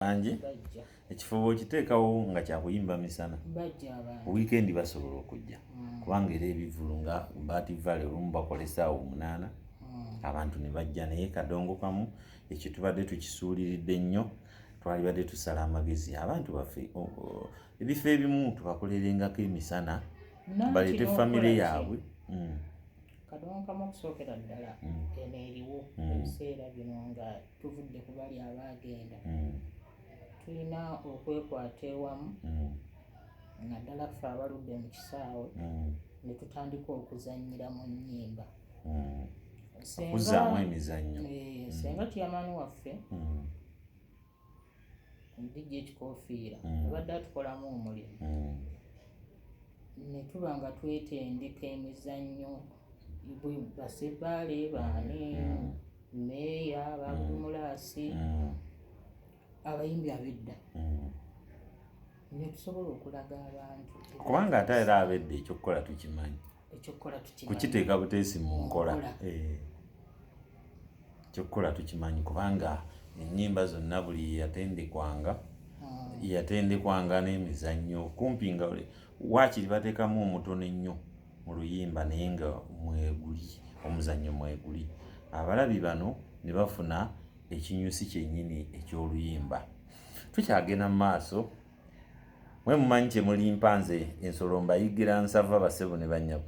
bangi ekifo bwokiteekawo nga kyakuyimba misana wiikendi basobola okujja mm. kubanga era ebivulu nga baati vale olumu bakola esaawa omunaana mm. abantu ne bajja naye kadongo kamu ekyo tubadde tukisuuliridde nnyo twalibadde tusala amagezi abantu baffe ebifo ebimu tubakolerengako emisana baleete famire yaabwe mm. kadongo kamu okusookera ddala eno eriwo ebiseera bino nga tuvudde ku bali abaagenda mm. tulina okwekwata ewamu mm. naddala ffe abaludde mu kisaawe mm. ne tutandika okuzannyira mu nnyimba okuzaamu emizannyo eh, senga tiyamani waffe omudijja ekikofiira mm. abadde atukolamu omulimu mm. netuba nga twetendeka emizannyo basebbaale baani meeya mm. babumulaasi abayimbi abedda netusobola okulaga abantu kubanga ate era abedda ekyokukola tukimanyi ekyokukola kukiteeka buteesi mu nkola eh. ekyokukola tukimanyi kubanga ennyimba zonna buli yeyatendekwanga hmm. yeyatendekwanga n'emizannyo kumpi nga waakiri bateekamu omutono ennyo mu luyimba naye nga mweguli omuzannyo mweguli abalabi bano ne bafuna ekinyusi kyennyini eky'oluyimba tukyagenda mu maaso Mwe mumanyi kyemulimpa nze ensolo mbayigira nsava basebo ne banyabo.